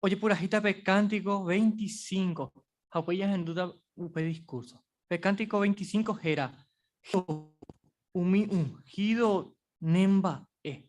ojepurahíta pe Cántico 25 ha upéi jahendúta upe discurso. Pe Cántico 25 héra, Jehová, umi ungido nemba'e.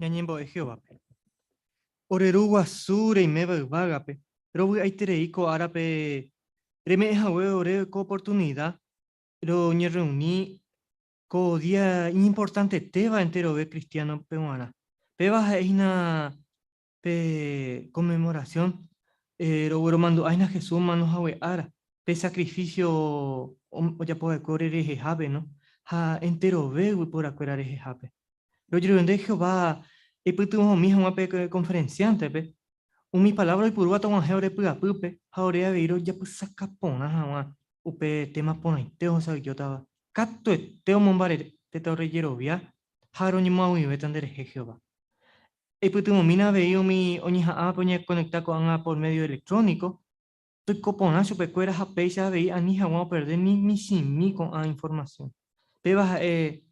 Ñañembo'e Jehovápe. Ore Ru guasu reiméva yvágape, rovy'aiterei ko árape reme'ẽ hague ore ko oportunida roñerreuni Ko día iñimportantetéva enterove kristiánope g̃uarã. Péva ha'e hína pe Conmemoración, rogueromandu'áhina Jesús omano hague ára, pe sakrifísio ojapo va'ekue ore rehehápe ha enterove yvyporakuéra rehehápe. Rojerure Jehová eipytyvõmi hag̃ua pe konferensiántepe, umi palávra oipurúva tog̃uahẽ ore py'apýpe ha ore avei rojapysaka porã hag̃ua upe téma porãite ohesaujótava Katuete omombarére tetã ore jerovia ha roñemoag̃uive tanderehe Jehová. Eipytyvõmína avei umi oñeha'ãvape oñekonekta ko'ág̃a por médio electrónico, toiko porã chupekuéra ha péicha avei ani hag̃ua operde ni michĩmi ko'ã informasión. Péva ha'e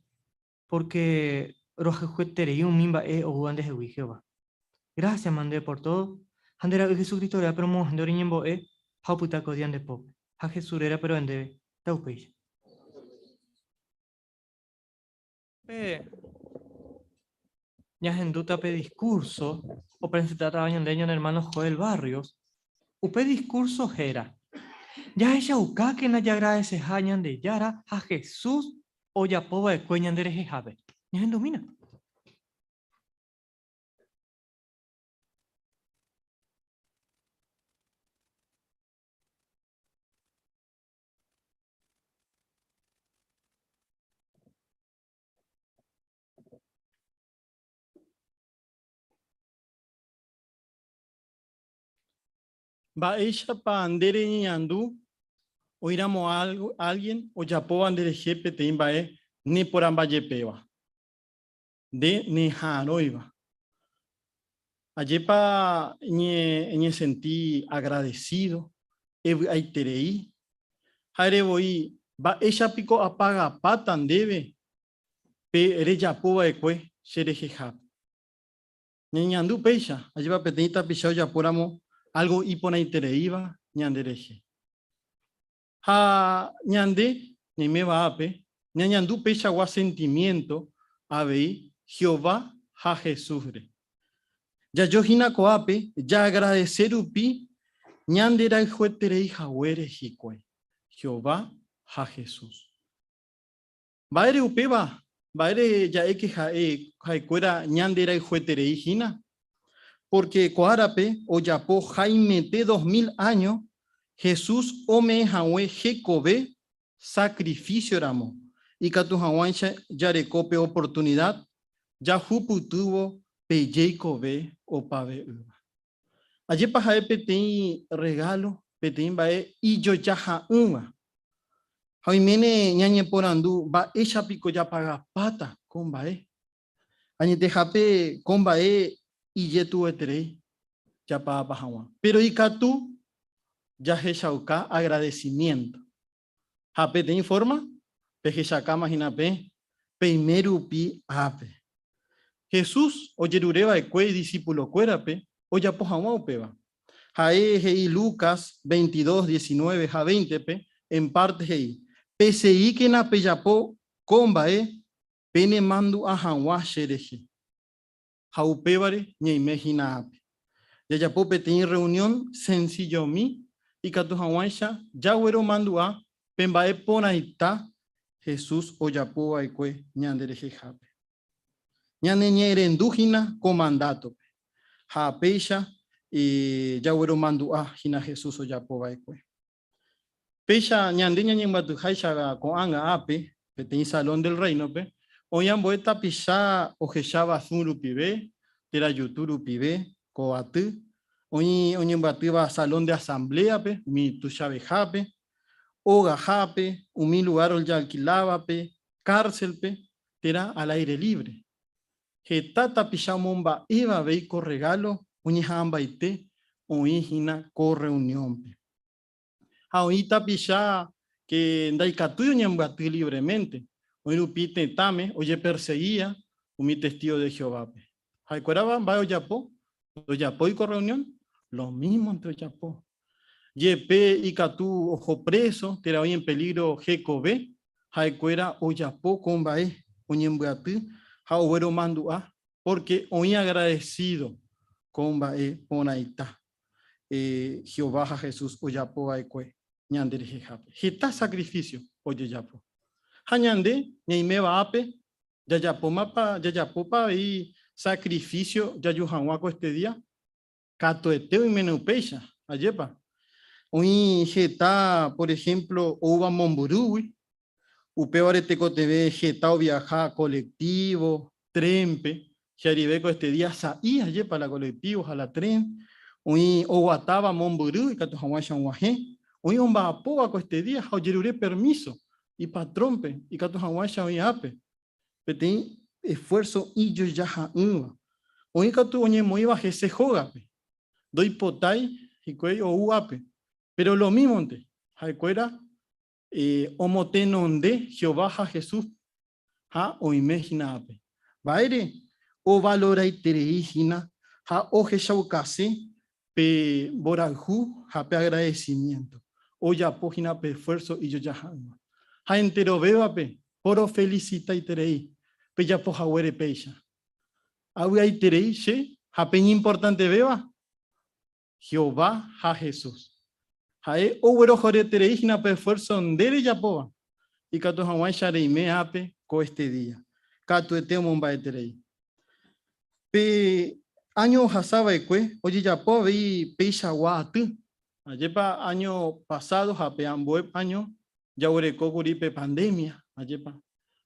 pórke rohayhueterei umi mba'e oúva ndehegui Jehová. Grásia mande pór tódo, ha nde Ra'y Jesucristo rérape romo'ãhende reñembo'e ha opyta ko día nde pópe, ha Jesús rérape ro'e ndéve, ta upéicha. Upépe ñahendúta pe diskúrso opresentátava ñande ñane ermáno Joel Barrios, upe diskúrso héra, Jahechaukákena jagradeseha Ñandejára ha Jesús ojapo va'ekue ñande rehehápe. Ñahendumína. Mba'éichapa nde reñeñandu oĩramo ánge ojapóva nderehe peteĩ mba'e neporambajepéva, nde neha'arõiva? Ajépa eñesenti agradesído, evy'aiterei? Ha'ére voi, mba'éicha piko apagapáta ndéve pe rejapova'ekue cherehehápe? Ñañe'andu péicha, ajépa peteĩ tapicha ojapóramo álgo iporãitereíva ñanderehe. Ha ñande, ñaiméva ápe, ñañandu peichagua sentimiénto avei Jehová ha Jesúsre. Jajo hína ko'ápe jaagradese rupi ñanderayhuetereihaguére hikuái Jehová ha Jesús. Mba'ére upéva? Mba'ére ja'éke ha'e ha'ekuéra ñande rayhueterei hína? Pórke ko árape ojapo haimete dos mil áño Jesús ome'ẽ hague hekove sakrifísioramo, ikatu hag̃uáicha jareko pe oportunida jahupytývo pe jeikove opave'ỹva. Ajépa ha'e peteĩ rregálo, peteĩ mba'e ijojaha'ỹva! Ha oiméne ñañeporandu, Mba'éicha piko japagapáta ko mba'e? Añetehápe ko mba'e ijetu'ueterei japagapa hag̃ua. Péro ikatu jahechauka agradesimiénto. ha peteĩ fórma pehechakáma hína pe peime rupi ápe. Jesús ojerure va'ekue idisipulokuérape ojapo hag̃ua upéva. Ha'e he'i Lucas veintidós, diecinueve ha veintepe, en párte he'i, Peseíkena pejapo ko mba'e penemandu'a hag̃ua che rehe. ha upévare ñaime hína ápe. Jajapo peteĩ rreunión sensillomi ikatu hag̃uáicha jagueromandu'a pe mba'e porãita Jesús ojapo va'ekue ñanderehehápe. Ñaneñe'ẽrendu hína ko mandátope ha péicha jagueromandu'a hína Jesús ojapo va'ekue. Péicha ñande ñañembyatyháicha ko'ág̃a ápe, peteĩ Salón del Réinope, oĩ ambue tapicha ohecháva sũ rupive, térã jutu rupive, ko aty, oĩ oñembyatýva Salón de Asambléape, umi tuichavehápe, ogahápe, umi lugár ojalkilávape, kárselpe, térã al aire libre. Heta tapicha omomba'éva avei ko rregálo oñeha'ãmbaite oĩ hína ko rreuniónpe. Ha oĩ tapicha ke ndaikatúi oñembyaty livreménte, oĩ rupi tetãme ojepersegia umi testígo de Jehovápe. Ha'ekuérava mba'e ojapo? Ndojapói ko rreunión? Lo mísmonte ojapo. Jepe ikatu oho préso térã oĩ en pelígro hekove, ha'ekuéra ojapo ko mba'e, oñembyaty ha ogueromandu'a pórke oĩ agradesído ko mba'e porãita Jehová ha Jesús ojapo va'ekue ñanderehehápe. Heta sakrifísio ojejapo. Ha ñande ñaiméva ápe, jajapómapa, jajapópa avei sakrifísio jaju hag̃ua ko este día? Katuete oiméne upéicha, ajépa. Oĩ heta, por ehémplo, oúva momburúgui, upévare tekotevẽ heta oviaha kolektívo, trénpe, che arivéko este día sa'i, ajépa, la kolektívo ha la tren, oĩ oguatáva mombyry ikatu hag̃uáicha og̃uahẽ, oĩ omba'apóvako este día ha ojerure permíso ipatrónpe ikatu hag̃uáicha oĩ ápe, Peteĩ esfuérso ijojaha'ỹva. Oĩ katu oñemoĩva hese hógape, ndoipotái hikuái ou ápe. Péro lomímonte, ha'ekuéra omotenonde Jehová ha Jesús ha oime hína ápe. Mba'ére ovaloraiterei hína ha ohechaukase Pe mborayhu ha pe agradecimiento ojapo hína pe esfuerzo ijojaha'ỹva. Ha enterovévape porofelicitaiterei pejapo haguére péicha. Avy'aiterei che ha peñimportantevéva, Jehová ha Jesús. Ha'e oguerohoryterei hína pe esfuerzo nde rejapóva, ikatu hag̃uáicha reime ápe ko este día. Katuete omomba'eterei. Pe áño ohasa va'ekue ojejapo avei peichagua aty. Ajépa áño pasádo ha pe ambue áño jaguereko kuri pe pandémia, ajépa!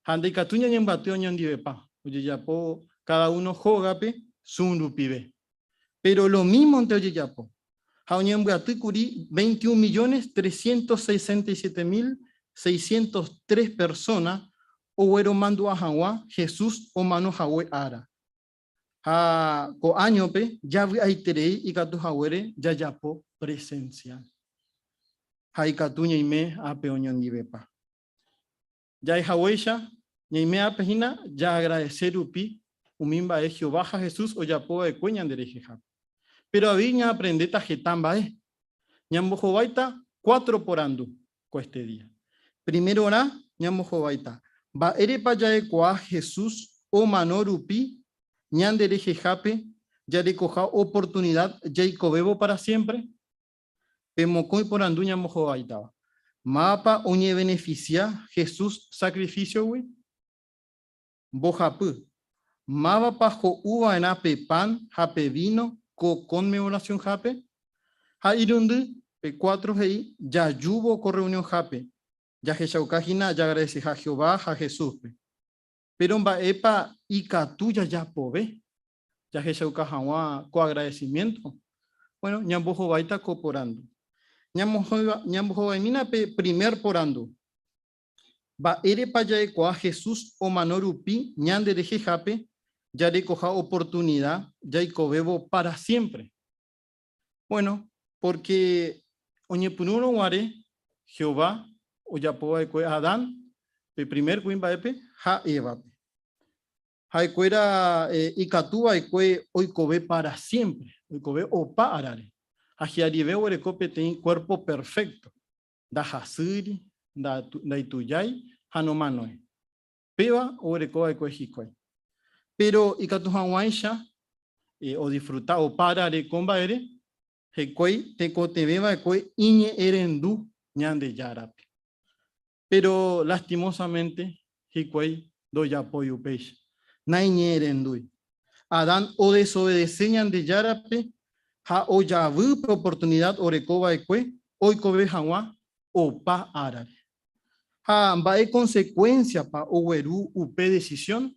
Ha ndaikatúi ñañembyaty oñondivepa ojejapo káda uno hógape Zoom rupive. Péro lomímonte ojejapo ha oñembyaty kuri veinte y un millones trescientos sesenta y siete mil seiscientos tres persóna ogueromandu'a hag̃ua Jesús omano hague ára. Ha ko áñope javy'aiterei ikatu haguére jajapo presensial. Ha ikatu ñaime ápe oñondivepa. Ja'e haguéicha, ñaime ápe hína jaagradese rupi umi mba'e Jehová ha Jesús ojapo va'ekue ñanderehehápe. Péro avei ñaaprendéta heta mba'e. Ñambohováita cuatro porandu, ko este día. Primerorã ñambohováita mba'érepa ja'ekuaa Jesús omano rupi ñande rehehápe jarekoha oportunida jaikovévo para siémpre. Pe mokõi porandu ñambohováitava, Mávapa oñevenefisia Jesús sakrifisiogui? Mbohapy, Mávapa ho'u va'erã pe pan ha pe víno ko Konmevorasionhápe? Ha irundy, pe kuátro he'i, Jajúvo ko rreunionhápe, jahechauka hína jaagradeseha Jehová ha Jesúspe. Péro mba'épa ikatu jajapove jahechauka hag̃ua ko agradesimiénto? Buéno, ñambohováita ko porandu. Ñambohovaimína pe primer porandu, Mba'érepa jaikuaa Jesús omano rupi ñanderehehápe jarekoha oportunida jaikovévo pára siémpre? Buéno, pórke oñepyrũrõ guare Jehová ojapo va'ekue Adán, pe primer kuimba'épe, ha Évape. Ha'ekuéra ikatu va'ekue oikove pára siémpre, oikove opa árape, ha hi'arive oguereko peteĩ kuérpo perfékto. ndahasýiri, ndaitujái ha nomanói. Péva oguereko va'ekue hikuái. Péro ikatu hag̃uáicha odisfruta opa rare ko mba'ére hikuái tekotevẽ va'ekue iñe'ẽrendu Ñandejárape. Péro lastimósamente hikuái ndojapói upéicha. Naiñe'ẽrendúi. Adán odesovede-se Ñandejárape ha ojavy pe oportunida oreko va'ekue oikove hag̃ua opa árare. Ha mba'e konsekuénsiapa ogueru upe desisión?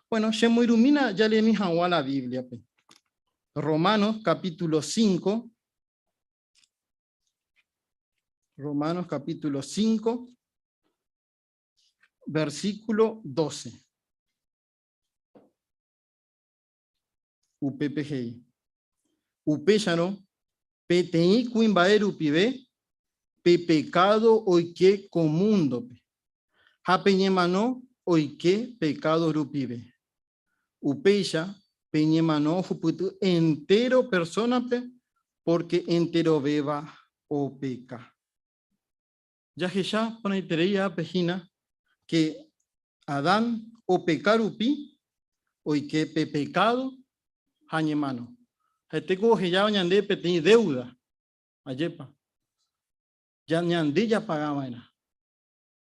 Bueno, chemoirũmína jaremi hag̃ua la Bíbliape. Romanos capítulo 5. Romanos capítulo 5. Versículo 12. Upépe he'i. Upéicharõ, peteĩ kuimba'e rupive pe pekádo oike ko múndope, ha pe ñemano oike pekádo rupive. Upéicha pe ñemano ohupyty entéro persónape pórke enterovéva opeka. Jahecha porãiterei ápe hína ke Adán opeka rupi oike pe pekádo ha ñemano. Ha'etéko ohejáva ñande peteĩ déuda. Ajépa? Ñande japaga va'erã.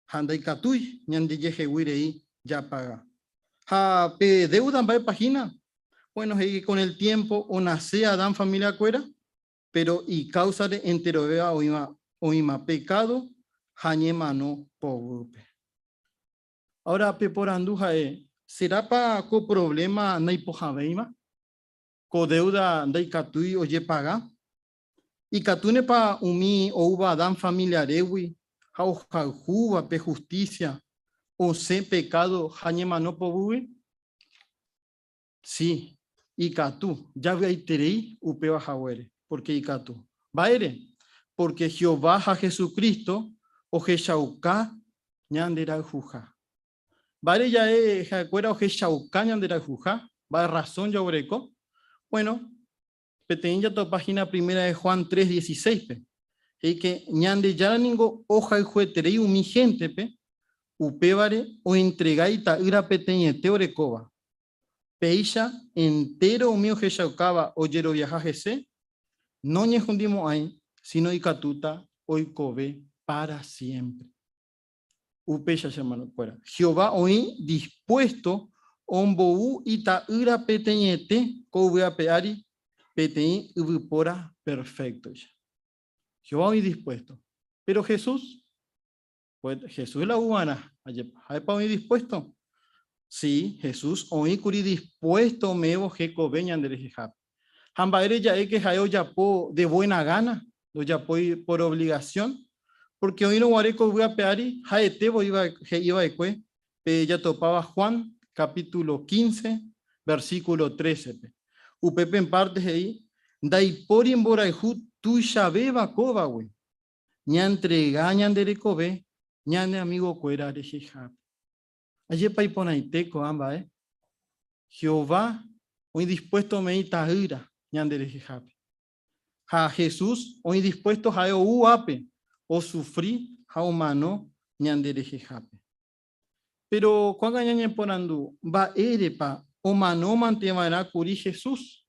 Ha ndaikatúi ñandejehegui rei japaga. Ha pe déuda mba'épa hína? Buéno, he'i kon el tiémpo onase Adán familiakuéra, péro ikáusare enterovéva oĩva oĩma pekádo ha ñemano poguýpe. Ára peporandu ha'e, Serápa ko provléma naipohãvéima? Ko déuda ndaikatúi ojepaga? Ikatúnepa umi oúva Adán familiarégui ha ohayhúva pe hustísia osẽ pekádo ha ñemano poguýgui? Sí, ikatu javy'aiterei upéva haguére. Pórke ikatu. Mba'ére? Pórke Jehová ha Jesucristo ohechauka ñanderayhuha. Mba'ére jave ha'ekuéra ohechauka ñanderayhuha? Mba'e rrasón jaguereko? Bueno, Peteĩ jatopa hína Primera de Juan tres dieciséis-pe, he'íke, Ñandejára ningo ohayhueterei umi héntepe, upévare oentrega Ita'ýra peteĩete orekóva. Péicha entéro umi ohechaukáva ojeroviaha hese, noñehundimo'ãi, síno ikatúta oikove pára siémpre. Upéicha, che hermanokuéra, Jehová oĩ dispuésto ombou Ita'ýra peteĩete ko yvy ape ári peteĩ yvypóra perféktoicha. Jehová oĩ dispuésto. Péro Jesús? Jesús la yvuva'erã. Ajépa, ha'épa oĩ dispuésto? Si, Jesús oĩ kuri dispuésto ome'ẽvo hekove ñanderehehápe. Ha mba'ére ja'éke ha'e ojapo de buena gana, ndojapói por obligación, pórke oĩrõ guare ko yvy ape ári ha'ete voi he'i va'ekue pe jatopáva Juan capítulo quince, versículo trece-pe. Upépe mpárte he'i, Ndaipóri mborayhu tuichavéva kóvagui, ñaentrega ñande rekove ñane amigokuéra rehehápe. Ajépa iporãite ko'ã mba'e! Jehová oĩ dispuésto ome'ẽ Ita'ýra ñanderehehápe. Ha Jesús oĩ dispuésto ha'e ou'ápe osufri ha omano ñanderehehápe. Péro ko'ág̃a ñañeporandu, Mba'érepa omanómante va'erã kuri Jesús?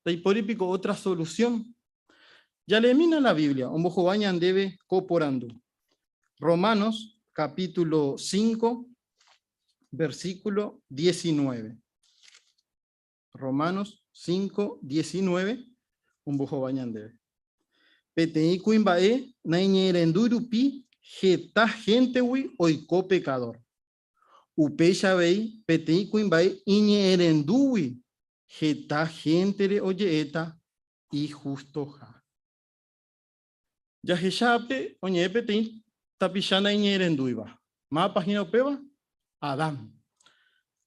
Ndaipóri piko ótra solusión? Jalémina la Biblia ombohovái ñandéve ko porandu. Romanos capítulo 5, versículo 19. Romanos 5, 19. Un bojo bañande. Peteí cuimbae, naiñerendu rupi, jeta gente hui oiko pecador. Upeixa vei, peteí cuimbae, iñeerendúgui, jeta gente re oyeeta y justo ja. Jahecha ápe, oñe'ẽ peteĩ tapicha naiñe'ẽrendúiva. Mávapa hína upéva? Adán.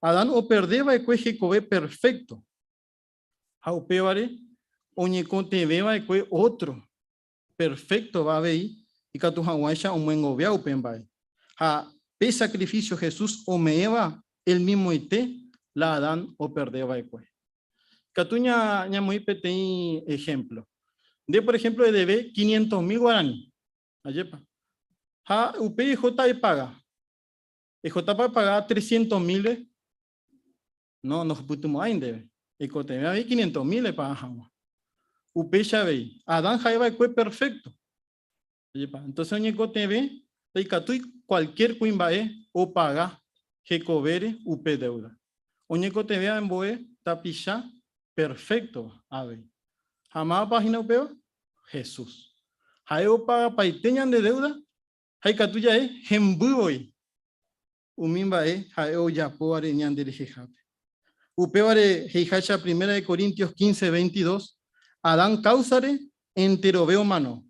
Adán operde va'ekue hekove perfékto, ha upévare oñekotevẽ va'ekue ótro perféktova avei ikatu hag̃uáicha omyengovia upe mba'e. Ha pe sakrifísio Jesús ome'ẽva elmimoite la Adán operde va'ekue. Katu ñamoĩ peteĩ ehémplo. Nde, por ehémplo, edeve quinientos mil guarani. Ajépa. Ha upéi ejota epaga. Ejotápa epaga trescientos mílre? No, ndohupytymo'ãi ndéve. Eikotevẽ avei quinientos mil epaga hag̃ua. Upéicha avei, Adán ha'e va'ekue perfékto. Ojepa. Entonces oñekotevẽ ndaikatúi cualquier kuimba'e opaga hekovére upe deuda. Oñekotevẽ ambue tapicha perfecto avei. Ha mávapa hína upéva? Jesús. Ha'e opagapaite ñande deuda ha ikatu jave hemby voi. umi mba'e ha'e ojapóvare ñande rehehápe. Upévare he'iháicha Primera de Corintios quince, veintidós, Adán káusare enterove omano,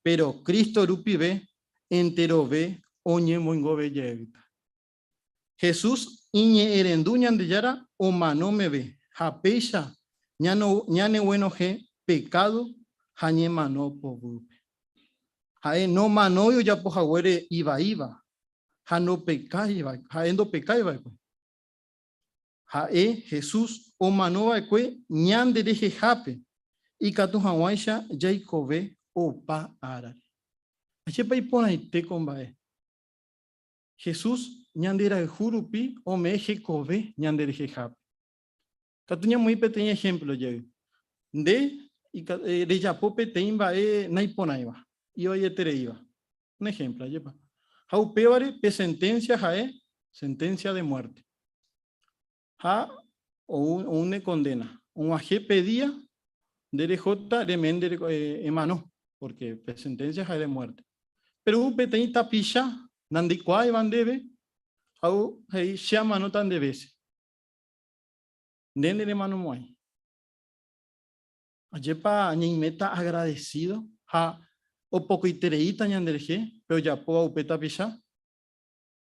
péro Cristo rupive enterove oñemoingove jeýta. Jesús iñe'ẽrendu Ñandejára omano meve ha péicha ñaneguenohẽ pekádo ha ñemano poguýpe. Ha'e nomanói ojapo haguére ivaíva, ha nopekái, ha'e ndopekái va'ekue. Ha'e, Jesús, omano va'ekue ñande rehehápe, ikatu hag̃uáicha jaikove opa árare. Ajépa iporãite ko mba'e! Jesús ñanderayhu rupi ome'ẽ hekove ñande rehehápe. Katu ñamoĩ peteĩ ehémplo jey. Nde rejapo peteĩ mba'e naiporãiva, ivaietereíva. Un ehémplo ajépa. Ha upévare pe senténsia ha'e senténsia de muerte. Ha oúne kondéna. Og̃uahẽ pe día nde rehóta remende emano, pórke pe senténsia ha'e de muerte. Péro ou peteĩ tapicha nandeikuaáiva ndéve ha ou he'i, Che amanóta nde vése. Nde nde remano mo'ãi. Ajépa ñaiméta agradesído ha opokoitereíta ñande rehe pe ojapóva upe tapicha.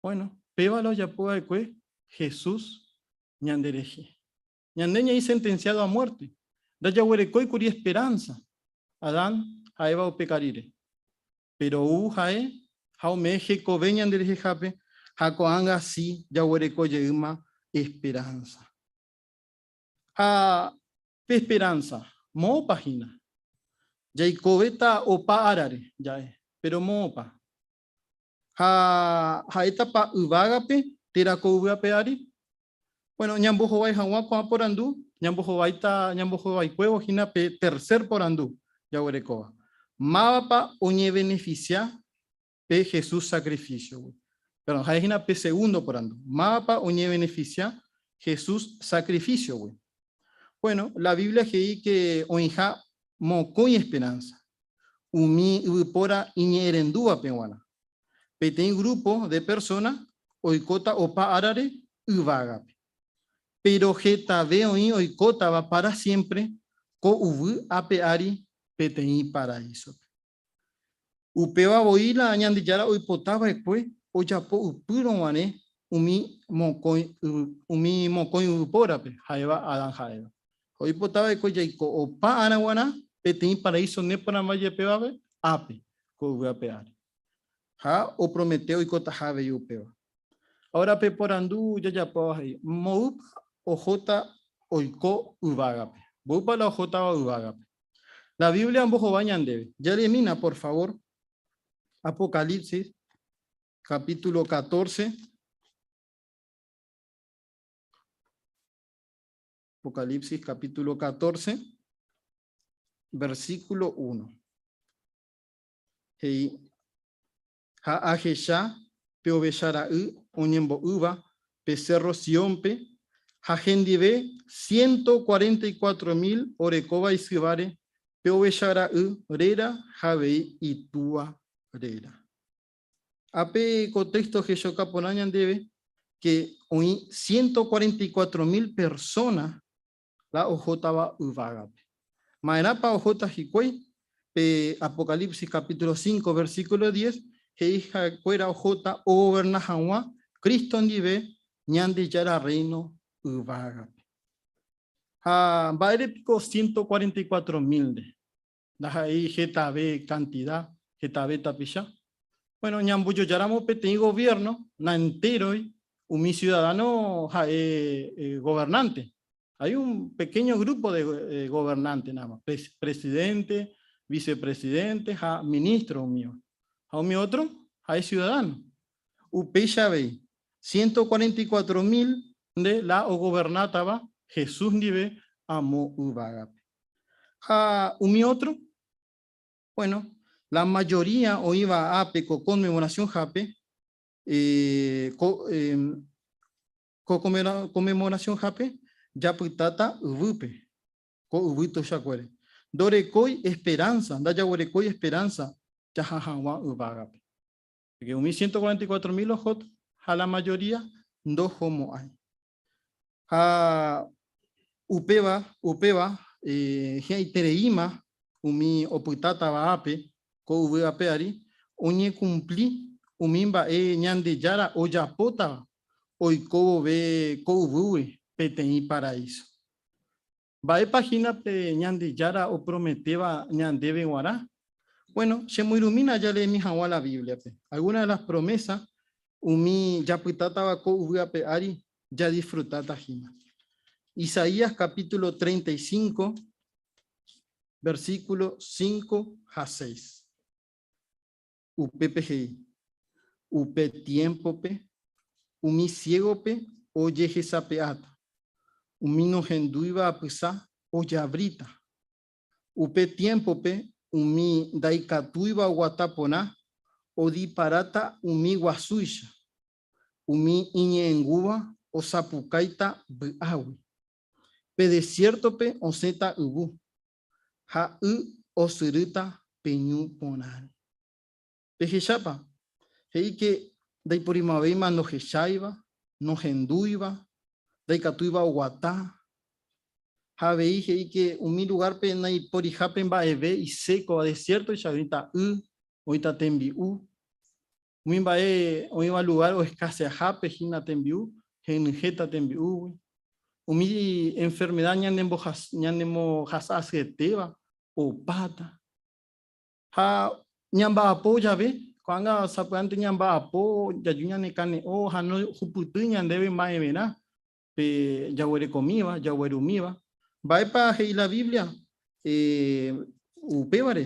Bueno, péva la ojapo va'ekue Jesús ñande rehe. Ñande ñaĩ sentenciado a muerte. Ndajaguerekói kuri esperanza Adán ha Eva upe karire. péro ou ha'e ha ome'ẽ hekove ñanderehehápe ha ko'ág̃a si jaguereko jeýma esperánsa. Ha pe esperánsa, moõpa hína? Jaikovéta opa árare ja'e, péro moõpa? Ha ha'étapa yvágape térã ko yvy ape ári? Bueno, ñambohovái hag̃ua ko'ã porandu, ñambohováita, ñambohovaikuévo hína pe tercer porandu jaguerekóva, Mávapa oñevenefisia pe Jesús sacrificio-gui? Perdón, ha'e hína pe segundo porandu, Mávapa oñevenefisia Jesús sacrificio-gui? Bueno, la Biblia he'i ke oĩha mokõi esperanza umi yvypóra iñe'ẽrendúvape g̃uarã. Peteĩ grúpo de persóna oikóta opa árare yvágape. Péro hetave oĩ oikótava pára siémpre ko yvy ape ári peteĩ paraísope. Upéva voi la Ñandejára oipota va'ekue ojapo ypýrõ guare umi mokõi yvypórape, ha'éva Adán ha Eva. ha oipota va'ekue jaiko opa ára guarã peteĩ paraíso neporãva jepévape ápe ko yvy ape ári. Ha opromete oikotaha avei upéva. Ahora peporandu jajapóva he'i, Mboýpa ohóta oiko yvágape? Mboýpa la ohótava yvágape? La Biblia ombohova ñandéve. Jeremína, por favor. Apocalipsis, capítulo 14. Apocalipsis capítulo 14, versículo 1. Hei, ha ahecha pe ovecha ra'y oñembo'ýva pe cerro Sionpe, ha hendive 144 mil orekóva isyváre pe ovecha ra'y réra ha avei itúa réra. Ápe ko téxto hechakuaa porã ñandéve ke oĩ ciento cuarenta y cuatro mil persóna la ohótava yvágape. Ma'erãpa ohóta hikuái? Pe Apocalipsis capítulo cinco, versículo diez he'i ha'ekuéra ohóta ogoverna hag̃ua Cristo ndive Ñandejára Rréino yvágape. Ha mba'ére piko ciento cuarenta y cuatro mílnde? Ndaha'éi hetave kantida, hetave tapicha. Bueno, ñambojojáramo peteĩ goviérno, naentéroi umi siudadáno ha'e governánte. Hay un pequeño grupo de governánte nada más, presidente, vicepresidente ha ministro umíva. Ha umi ótro ha'e siudadáno. Upéicha avei, ciento cuarenta y cuatro mil nde la ogovernátava Jesús ndive amo yvágape. Ha umi ótro? Bueno, la majoría oĩva ápe ko Conmemoracionhápe, ko ko Conmemoracionhápe japytáta yvýpe, ko yvy tuichakuére. Ndorekói esperanza, ndajaguerekói esperanza jaha hag̃ua yvágape. Porque umi ciento cuarenta y cuatro mil ohót ha la mayoría ndohomo'ãi. Ha upéva, upéva eh, hi'ãitereíma umi opytátava ápe ko yvy ape ári oñekumpli umi mba'e Ñandejára ojapótava oiko vove ko yvýgui peteĩ paraíso. Mba'épa hína pe Ñandejára oprometéva ñandéve g̃uarã? Bueno, chemoirũmína jareemi hag̃ua la Bíbliape. Alguna de las promesas umi japytátava ko yvy ape ári jadisfrutáta hína. Isaías capítulo 35, versículo 5 ha 6. Upépe he'i, Upe tiémpope umi siégope ojehesape'áta, umi nohendúiva apysa ojavríta. Upe tiémpope umi ndaikatúiva oguata porã odiparáta umi guasúicha, umi iñe'ẽngúva osapukáita vy'águi. Pe desiértope osẽta yvu, ha y osyrýta pe ñu porãre. Pehechápa? He'íke ndaiporimo'ãvéima ndohecháiva, nohendúiva, ndaikatúiva oguata. Ha avei he'íke umi lugárpe naiporihápe mba'eve isékova, desiértoicha oĩta y, oĩta tembi'u. Umi mba'e oĩva lugár oeskaseahápe hína tembi'u, henyhẽta tembi'úgui. Umi enfermeda ñanemohasa asyetéva opáta. Ha ñamba'apo jave, ko'ág̃a sapy'ánte ñamba'apo jaju ñanekane'õ ha nohupyty ñandéve mba'everã pe jaguerekomíva, jaguerumíva. Mba'épa he'i la Biblia upévare?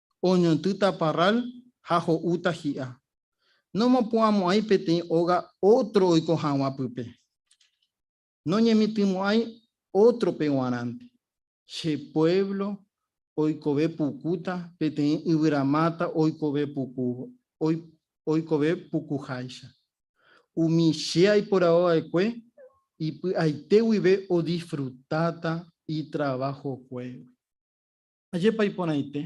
oñontýta parrál ha ho'úta hi'a. Nomopu'ãmo'ãi peteĩ óga ótro oiko hag̃ua pype. Noñemitỹmo'ãi ótrope g̃uarãnte. Che puévlo oikove pukúta peteĩ yvyramáta oikove puku oikove pukuháicha. Umi che aiporavo va'ekue ipy'aite guive odisfrutáta itravahokuégui. Ajépa iporãite!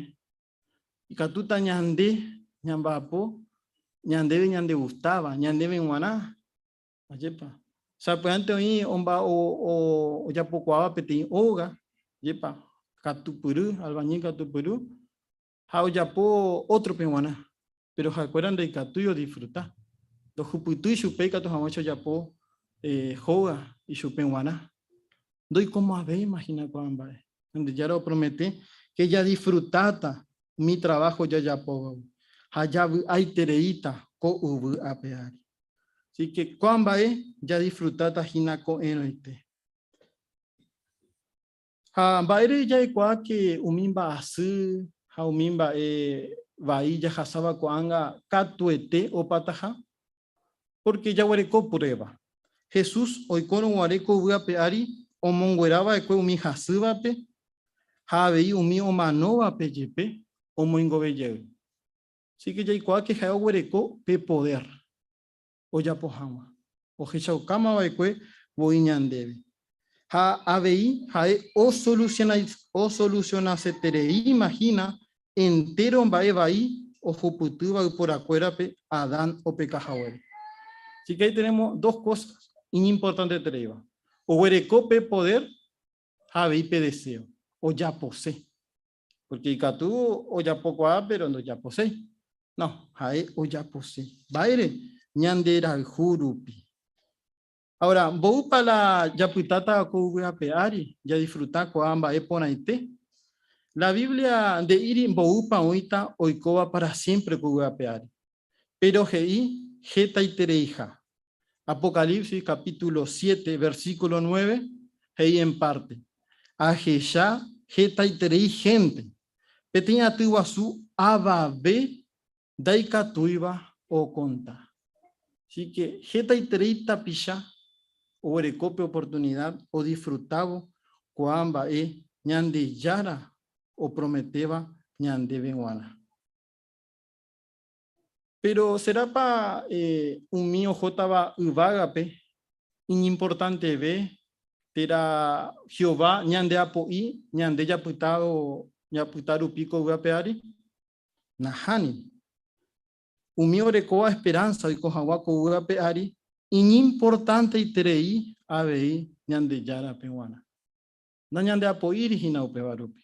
Ikatúta ñande ñamba'apo ñandéve ñandegustáva, ñandéve g̃uarã. Ajépa! Sapy'ánte oĩ ojapokuaáva peteĩ óga, ajépa, katupyry, albañil katupyry, ha ojapo ótrope g̃uarã. Péro ha'ekuéra ndaikatúi odisfruta. Ndojupytýi chupe ikatu hag̃uáicha ojapo hóga ichupe g̃uarã. Ndoikomo'ãvéima hína ko'ã mba'e. Ñandejára opromete ke jadisfrutáta umi traváho jajapóvagui ha javy'aitereíta ko yvy ape ári. Así ke ko'ã mba'e jadisfrutáta hína ko'ẽrõite. Ha mba'ére jaikuaáke umi mba'asy ha umi mba'e vai jahasáva ko'ág̃a katuete opataha? Pórke jaguereko pruéva. Jesús oikórõ guare ko yvy ape ári omonguera va'ekue umi hasývape ha avei umi omanóvape jepe omoingove jey. Asíke jaikuaáke ha'e oguereko pe podér. ojapo hag̃ua, ohechaukáma va'ekue voi ñandéve. Ha avei ha'e osolusionasetereíma hína entéro mba'e vai ohupytýva yporakuérape Adán opeka haguére. Así que ahí tenemos dos cosas iñimportantetereíva, oguereko pe podér ha avei pe deseo, ojapose. Pórke ikatu ojapokuaa péro ndojaposéi. No, ha'e ojapose. Mba'ére? Ñande rayhu rupi. Aora, mboýpa la japytáta ko yvy ape ári jadisfruta ko'ã mba'e porãite? La Biblia nde'íri mboýpa oĩta oikóva pára siémpre ko yvy ape ári. Péro he'i hetaitereiha. Apocalipsis capítulo siete, versículo nueve he'i en párte, Ahecha hetaiterei hénte, peteĩ aty guasu avave ndaikatúiva okonta. Así ke hetaiterei tapicha oguereko pe oportunida odisfrutávo kua mba'e Ñandejára oprometéva ñandéve g̃uarã. Péro serápa umi ohótava yvágape iñimportanteve térã Jehová ñandeapo'i ñande japyta rupi ko yvápe ári? Nahániri. Umi orekóva esperánsa oiko hag̃ua ko yvápe ári iñimportanteiterei avei Ñandejárape g̃uarã. Nañandeapo'íri hína upéva rupi.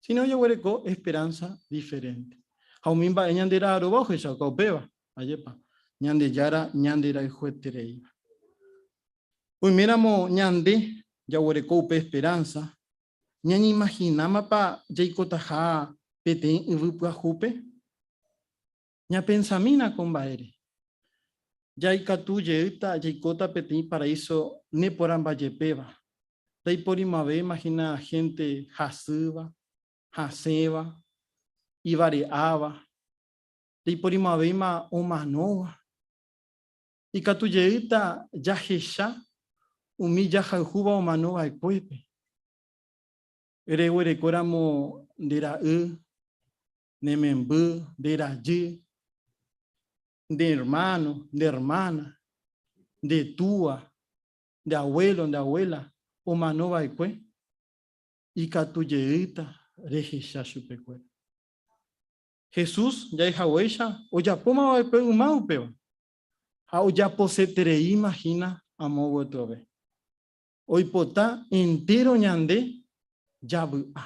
síno jaguereko esperánsa diferénte. Ha umi mba'e ñandera'arõva ohechauka upéva, ajépa, Ñandejára ñanderayhuetereíva. Oiméramo ñande jaguereko upe esperánsa, ñañeimahinámapa jaikotaha peteĩ yvy pyahúpe? Ñapensamína ko mba'ére. Jaikatu jeýta jaikóta peteĩ paraíso neporãmbajepéva. Ndaiporimo'ãve imagina hénte hasýva, hasẽva, ivare'áva. Ndaiporimo'ãvéima omanóva. Ikatu jeýta jahecha umi jahayhúva omano va'ekuépe. Reguerekóramo nde Ra'y, ne memby, nde rajy, nde hermano, nde hermana, nde túa, nde abuelo, nde abuela omano vaekue ikatu jeýta rehecha chupekuéra. Jesús jahechakuéicha ojapóma vaekue yma upéva ha ojaposetereíma hína amo gotyove. oipota entéro ñande javy'a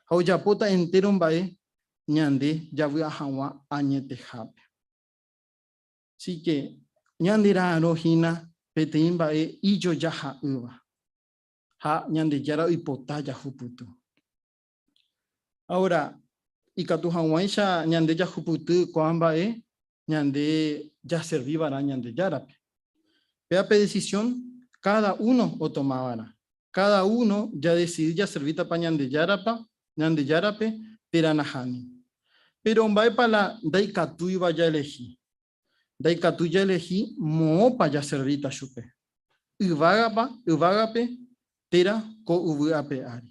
ha ojapóta entéro mba'e ñande javy'a hag̃ua añetehápe. Así ke ñande ra'arõ hína peteĩ mba'e ijojaha'ỹva ha Ñandejára oipota jahupyty. Ahora, ikatu hag̃uáicha ñande jahupyty ko'ã mba'e ñande jaservi va'erã Ñandejárape. Péva pe decisión káda uno otoma va'erã. Káda uno jadesidi jaservítapa Ñandejárape térã nahániri. Péro mba'épa la ndaikatúiva jaelehi? Ndaikatúi jaelehi moõpa jaservíta chupe, yvágape térã ko yvy ape ári.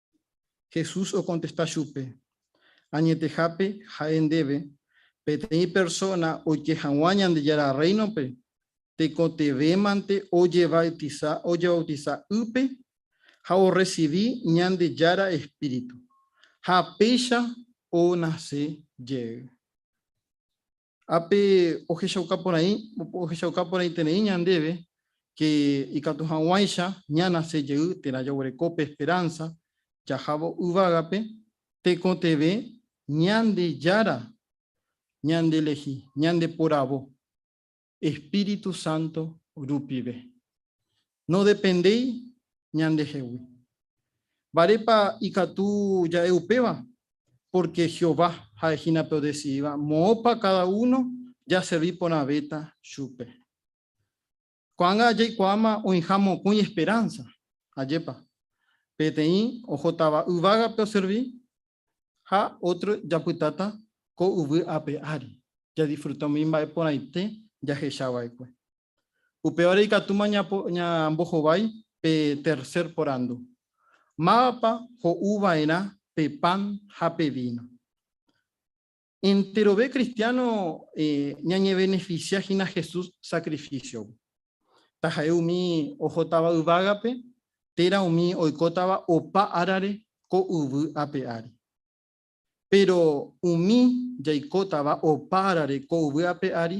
Jesús okontesta chupe, Añetehápe ha'e ndéve, peteĩ persóna oike hag̃ua Ñandejára Rréinope, tekotevẽmante ojevautisa ojevautisa ýpe ha orresivi Ñandejára espíritu, ha péicha onase jey. Ápe ohechauka porãi, ohechauka porãiterei ñandéve ke ikatu hag̃uáicha ñanase jey térã jaguereko pe esperánsa jahávo yvágape tekotevẽ Ñandejára ñandelehi, ñandeporavo, Espíritu Santo rupive. Nodependéi ñandehegui. Mba'érepa ikatu ja'e upéva? Pórke Jehová ha'e hína pe odesidíva moõpa káda uno jaservi porãvéta chupe. Ko'ág̃a jaikuaáma oĩha mokõi esperánsa. Ajépa! Peteĩ ohótava yvágape oservi, ha ótro japytáta ko yvy ape ári, jadisfruta umi mba'e porãite jahecha va'ekue. Upévare ikatúma ñambohovái pe tercer porandu, Mávapa ho'u va'erã pe pan ha pe víno? Enterove kristiáno ñañevenefisia hína Jesús sakrifísiogui. Taha'e umi ohótava yvágape térã umi oikótava opa árare ko yvy ape ári. Péro umi jaikótava opa árare ko yvy ape ári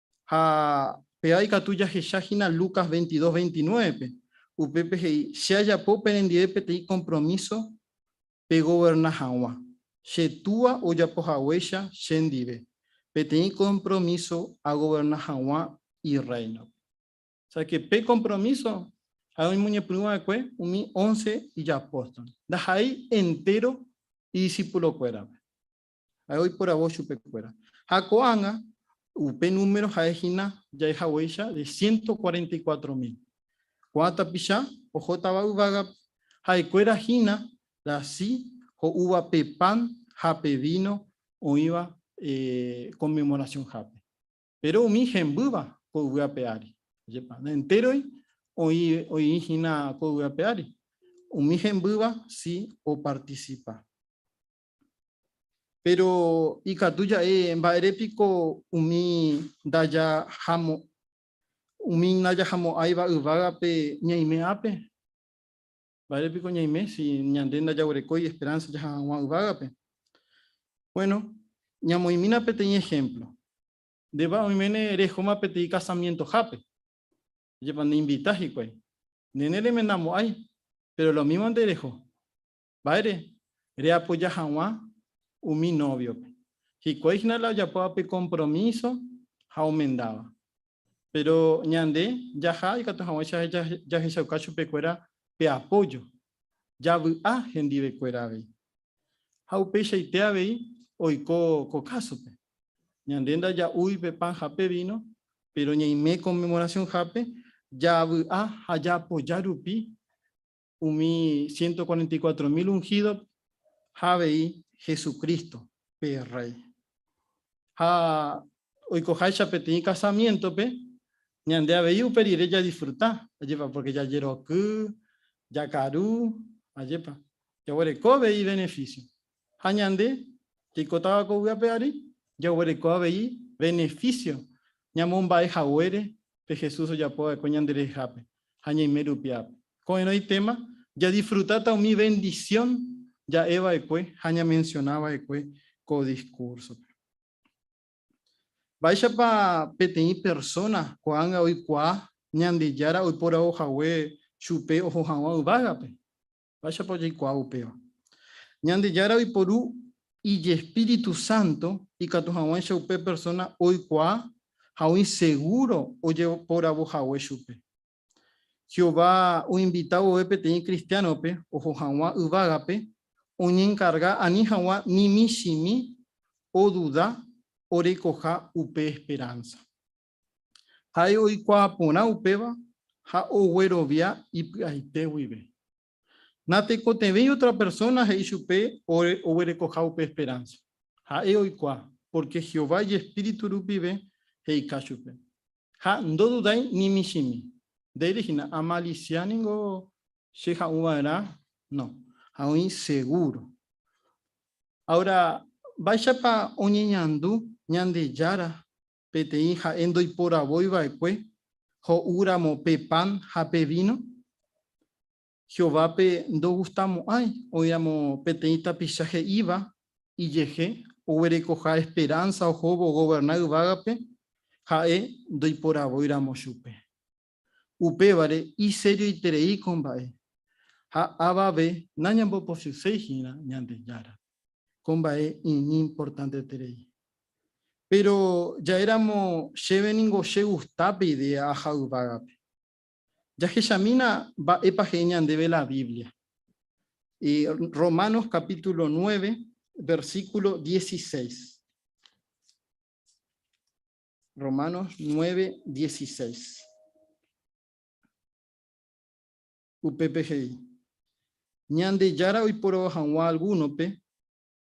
Ha péva ikatu jahecha hína Lucas veintidós veintinuévepe, upépe he'i, Che ajapo perendive peteĩ kompromíso pegoverna hag̃ua, che Túa ojapo haguéicha chendive peteĩ kompromíso agoverna hag̃ua Irréinope. Ósea, pe kompromíso ha oñemoñepyrũ va'ekue umi ónce ijapóstol, ndaha'éi entéro idisipulokuérape. Ha'e oiporavo chupe kuéra. Ha ko'ág̃a, upe número ha'e hína jahechaguéicha de ciento cuarenta y cuatro mil. Ko'ã tapicha ohótava yvágape, ha'e kuéra hína rasy ho'úva pe pan ha pe víno oĩva Conmemoración hápe. Péro umi hembýva ko yvy ape ári, ajépa, ne entéroy oĩ, oĩ hína ko yvy ape ári. Umi hembýva si opartisipa. Péro ikatu ja'e mba'ére piko umi ndajahamo'ãiva yvágape ñaime ápe? Mba'ére piko ñaime si ñande ndajaguerekói esperánsa jaha hag̃ua yvágape? Buéno, ñamoĩmína peteĩ ehémplo. Ndépa oiméne rehóma peteĩ kasamientohápe, jepa neinvita hikuái. Ndéne remendamo'ãi, péro lomívonte reho. Mba'ére reapoja hag̃ua umi nóviope? Hikuái hína la ojapóva pe kompromíso ha omendáva. Péro ñande jaha ikatu hag̃uáicha jahechauka chupekuéra pe apójo, javy'a hendivekuéra avei. Ha upeichaite avei oiko ko kásope. Ñande ndaja'úi pe pan ha pe víno, péro ñaime Konmemorasionhápe javy'a ha jaapoja rupi umi ciento cuarenta y cuatro mil unhídogui ha avei Jesucristo, pe Rréi. Ha oikoháicha peteĩ kasamiéntope, ñande avei upe rire jadisfruta, ajépa, pórke jajeroky, jakaru, ajépa, jaguereko avei ivenefísio. ha ñande jaikotáva ko vy'ápe ári, jaguereko avei beneficio ñamomba'e haguére pe Jesús ojapo va'ekue ñande rehehápe ha ñaime rupi ápe. Ko'ẽrõ itéma jadisfrutáta umi bendición ja'e va'ekue ha ñamensiona va'ekue ko discúrsope. Mba'éichapa peteĩ persóna ko'ág̃a oikuaa Ñandejára oiporavo hague chupe oho hag̃ua yvágape? Mba'éichapa ojeikuaa upéva? Ñandejára oiporu ijespíritu sánto ikatu hag̃uáicha upe persóna oikuaa ha oĩ segúro ojeporavo hague chupe. Jehová oinvita vove peteĩ kristiánope oho hag̃ua yvágape oñenkarga ani hag̃ua ni michĩmi oduda orekoha upe esperánsa. Ha'e oikuaa porã upéva ha oguerovia ipy'aite guive. Natekotevẽi otra persona he'i chupe oguerekoha upe esperanza. Ha'e oikuaa, pórke Jehová ijespíritu rupive he'ika chupe. Ha ndodudái ni michĩmi. Ndéire hína, Amalisia ningo che ha'ũ va'erã? No. Ha oĩ segúro. Áora, mba'éichapa oñeñandu Ñandejára peteĩ ha'e ndoiporavói va'ekue ho'u ramo pe pan ha pe víno? Jehovápe ndogustamo'ãi oĩramo peteĩ tapicha he'íva ijehe oguerekoha esperánsa ohóvo ogoverna yvágape ha'e ndoiporavóiramo chupe. Upévare iserioiterei ko mba'e, ha avave nañambopochyséi hína Ñandejára. Ko mba'e iñimportanteterei. Péro ja'éramo chéve ningo chegusta pe idéa aja yvágape. Jahechamína mba'épa he'i ñandéve la Biblia. Romanos capítulo nueve, versículo dieciséis. Romanos 9, 16. Upépe he'i, Ñandejára oiporavo hag̃ua algúnope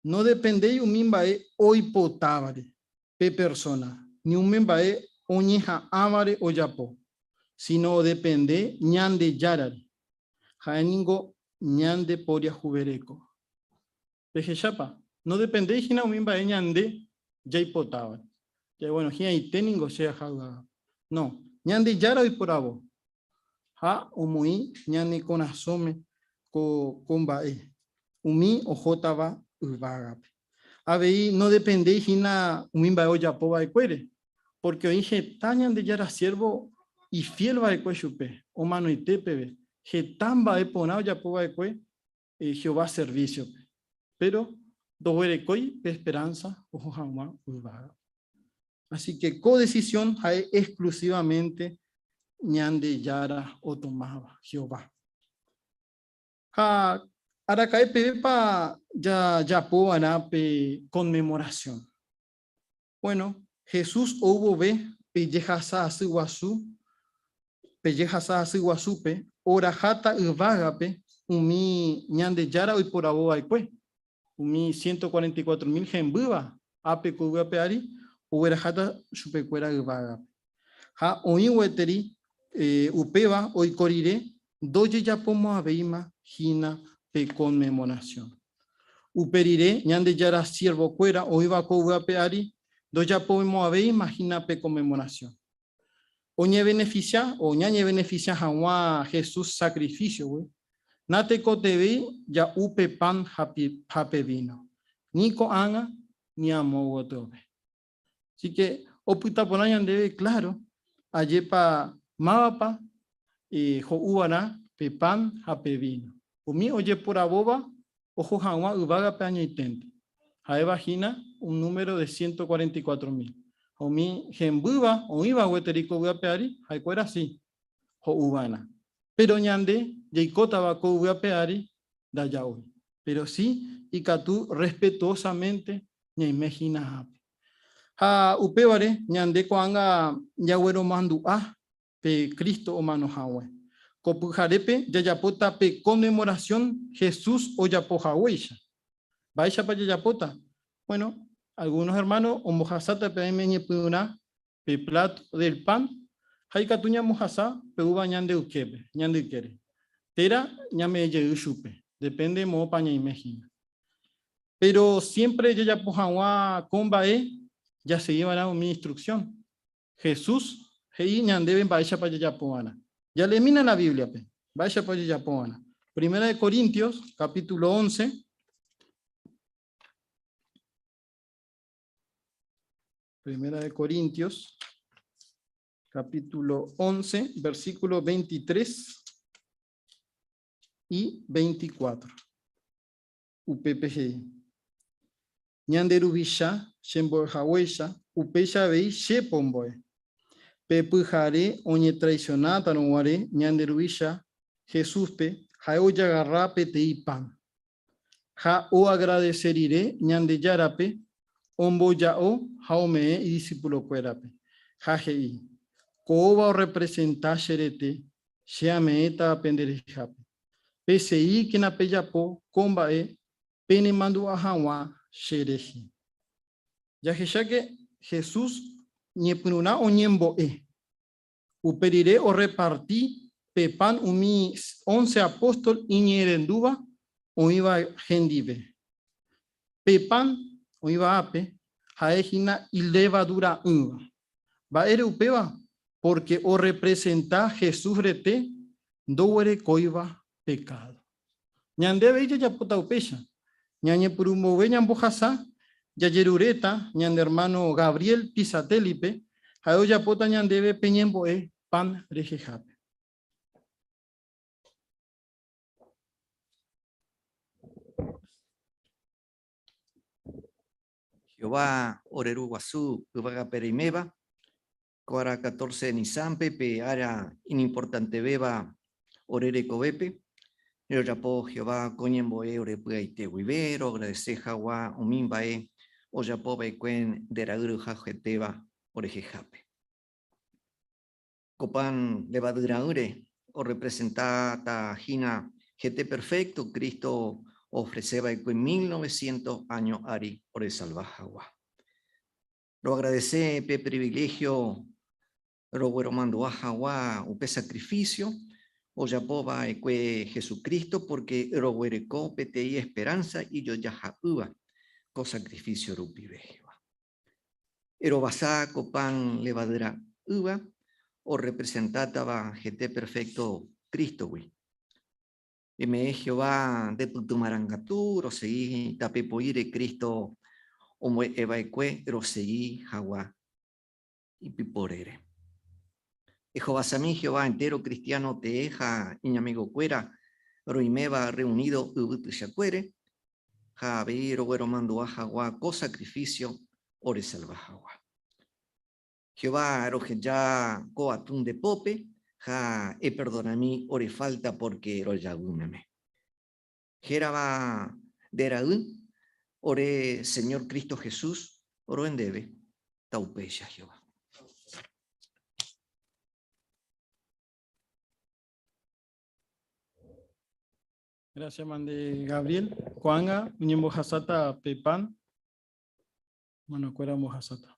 nodependéi umi mba'e oipotávare pe persóna ni umi mba'e oñeha'ãvare ojapo, síno odepende Ñandejárare. Ha'e ningo ñandeporiahuvereko. Pehechápa, nodependéi hína umi mba'e ñande jaipotáva. Ja'e, bueno, hi'ãite ningo che aja yvága. No, Ñandejára oiporavo ha omoĩ ñane korasõme ko mba'e, umi ohótava yvágape. Avei nodependéi hína umi mba'e ojapo va'ekuére, pórke oĩ heta Ñandejára siérvo ifiél va'ekue chupe, omanoite peve, heta mba'e porã ojapo va'ekue Jehová servísiope, péro ndoguerekói pe esperánsa oho hag̃ua yvága. Asíke ko desisión ha'e exklusívamente Ñandejára otomáva, Jehová. Ha araka'e pevépa jajapo va'erã pe Konmemorasión? Bueno, Jesús ou vove pe jehasa asy guasu, pe jehasa asy guasúpe, oraháta yvágape umi Ñandejára oiporavo va'ekue, umi ciento cuarenta y cuatro mil hembýva, ápe ko yvy ape ári, ogueraháta chupekuéra yvágape. Ha oĩ gueteri upéva oiko rire ndojejapomo'ãvéima hína pe conmemoración. Upe rire Ñandejára siervokuéra oĩva ko yvápe ári ndojapomo'ãvéima hína pe conmemoración. Oñebeneficia o ñañebeneficia hag̃ua Jesús sacrificio-gui, natekotevẽi ja'u pe pan ha pe víno, ni ko'ág̃a ni amo gotyo pe. Así que opyta porã ñandéve, claro, ajépa mávapa ho'úva'erã pe pan ha pe víno. Umi ojeporavóva oho hag̃ua yvágape añoiténte, ha'éva hína un número de ciento cuarenta y cuatro mil. Ha umi hembýva oĩva gueteri ko vy'ápe ári, ha'ekuéra si ho'úva'erã. Péro ñande jaikótava ko yvy ape ári ndaja'ói. Péro si ikatu respetuosamente ñaime hína ápe. Ha upévare ñande ko'ág̃a jagueromandu'a pe Cristo omano hague. Ko pyharépe jajapóta pe conmemoración Jesús ojapo haguéicha. Mba'éichapa jajapóta? Bueno, algunos hermanos ombohasáta pe aime ñepyrũrã pe plat del pan ha ikatu ñamohasa pe úva ñande yképe, ñande ykére. Térã ñame'ẽ jey chupe, depende moõpa ñaime hína. Péro siémpre jajapo hag̃ua ko mba'e jasegi va'erã umi instruksión. Jesús he'i ñandéve mba'éichapa jajapo va'erã. Jale'emína la Bíbliape mba'éichapa ojejapo va'erã. Primera de Corintios, kapítulo once. Primera de Corintios, capítulo 11, versículo 23 y 24. UPPG. Ñande ruvicha, chemboe haguecha, upecha vei che pomboe. Pepe jare oñe traicionata no guare, ñande ruvicha, Jesús pe, jae oyagarra petei pan. ha oagradese rire Ñandejárape omboja'o ha ome'ẽ idisipulokuérape, ha he'i, Ko'õva orrepresenta che rete, che ameẽta penderehéhape. Peseíkena pejapo ko mba'e penemandu'a hag̃ua che rehe. Jahecháke Jesús ñepyrũrã oñembo'e. Upe rire orreparti pe pan umi ónce apóstol iñe'ẽrendúva oĩva hendive. Pe pan oĩva ápe ha'e hína ilevadura'ỹva. Mba'ére upéva? Pórke orrepresenta Jesús rete ndoguerekóiva pekádo. Ñande avei jajapóta upéicha. Ñañepyrũ mboyve ñambohasa, jajeruréta ñane ermáno Gabriel Pisatellipe, ha'e ojapóta ñandéve pe ñembo'e pan rehehápe. Jehová ore Ru Guasu Yvagapereiméva Ko ára catorce Nisánpe, pe ára iñimportantevéva ore rekovépe, rejapo Jehová ko ñembo'e ore py'aite guive, roagradese hagua umi mba'e ojapo va'ekue nde ra'yru haguetéva orehehápe. Ko pan levadu ra'ỹre orrepresenta ta hína hete perfecto Cristo oofrese va'ekue mil novecientos áño ári oresalva hagua. Roagradese pe priviléhio rogueromandu'a hagua upe sakrifísio ojapo va'ekue Jesucristo, pórke roguereko peteĩ esperánsa ijojaha'ỹva ko sakrifísio rupive. Jehová erovasa ko pan levadyra'ỹva orrepresentátava hete perfékto Crístogui. Peme'ẽ Jehová nde pyty marangatu rosegi tape poĩre Cristo ombo'e va'ekue rosegi hagua ipyporére. Ehovasami Jehová entéro kristiáno tee ha iñamigokuéra roiméva rreunido yvy tuichakuére ha avei rogueromandu'a hagua ko sakrifísio oresalva hagua. Jehová roheja ko atún nde pópe ha eperdonami ore falta pórke rojaguy meme. Hérava nde ra'y, ore Señor Cristo Jesús roe ndéve. Taupéicha Jehová. Gracias, Mande Gabriel. Ko'ág̃a oñembohasáta pe pan, manokuéra ombohasáta.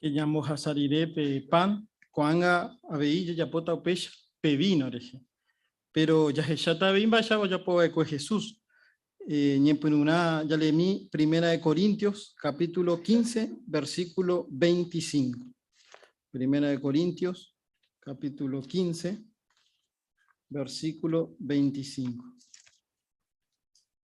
que ñambohasa rire pe pan, ko'ág̃a avei jajapóta upéicha pe víno rehe. Péro jahecháta avei mba'éichapa ojapo va'ekue Jesús. Ñepyrũrã jalemi Primera de Corintios capítulo 15, versículo 25. Primera de Corintios capítulo 15, versículo 25.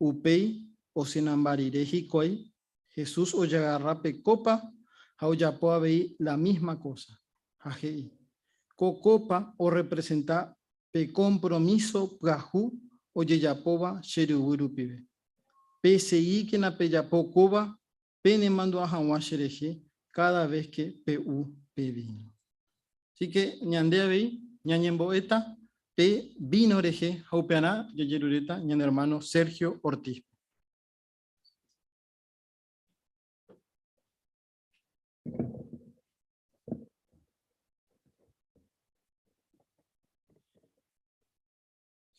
Upéi osẽnamba rire hikuái, Jesús ojagarra pe kópa ha ojapo avei la mísma kósa, ha he'i, Ko kópa orrepresenta pe kompromíso pyahu ojejapóva che ryvy rupive. Peseguíkena pejapo kóva penemandu'a hag̃ua cherehe káda ves ke pe'u pe víno. Así ke ñande avei ñañembo'éta pe víno rehe ha upearã jajeruréta ñane ermáno Sergio Ortíspe.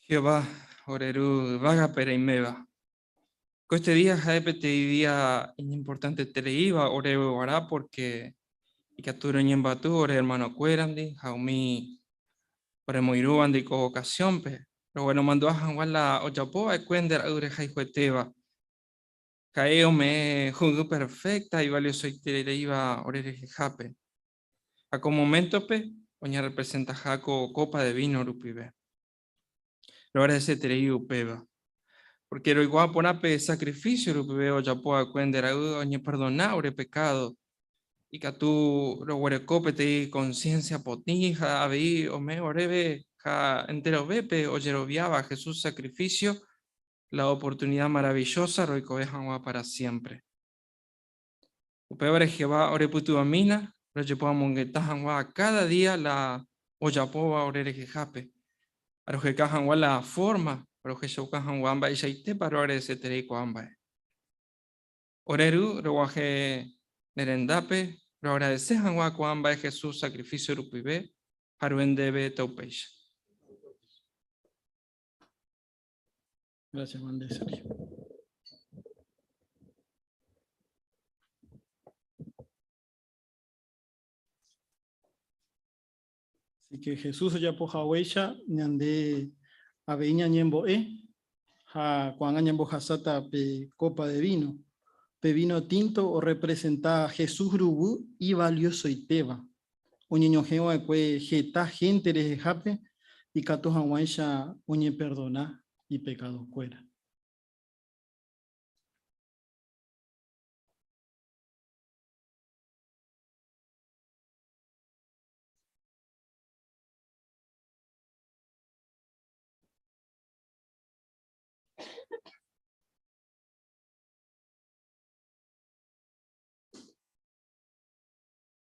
Jehová ore Ru yvágape reiméva. Ko este día ha'e peteĩ día iñimportantete reíva oréve guarã, pórke ikatu roñembyaty ore ermanokuérandi ha umi oremoirũvandi ko vokasiónpe, rogueromandu'a hag̃ua la ojapo va'ekue nde ra'y rehayhuetéva. Ha'e ome'ẽ ho'ýy perfékta ivaliosoite reíva ore rehehápe, ha ko moméntope oñarrepresentaha ko kópa de víno rupive. Roagradeseterei upéva. Pórke roikuaa porã pe sakrifísio rupive ojapo va'ekue nde ra'y oñeperdona ore pekádo, ikatu roguereko peteĩ konsiénsia potĩ ha avei ome oréve ha enterovépe ojeroviáva Jesús sakrifísio la oportunida maravillosa roikove hag̃ua pára siémpre. Upévare Jehová orepytyvõmína rojepoamongeta hag̃ua káda día la ojapóva ore rehehápe, ha roheka hag̃ua la fórma rohechauka hag̃ua mba'eichaitépa roagradeseterei ko'ã mba'e. Ore ru roguahẽ ne rendápe, roagradese hag̃ua ko'ã mba'e Jesús sakrifísio rupive ha rohendeve ta upéicha. Gracias, Juan de Sergio. Así que Jesús ya poja huella, ñande aveña ñemboe, ha cuando ñembo hasata pe copa de vino. Pe vino tinto o representa Jesús rubu y valioso y teba. oñeñohẽ va'ekue heta hénte rehehápe ikatu hag̃uáicha oñeperdona ipekadokuéra.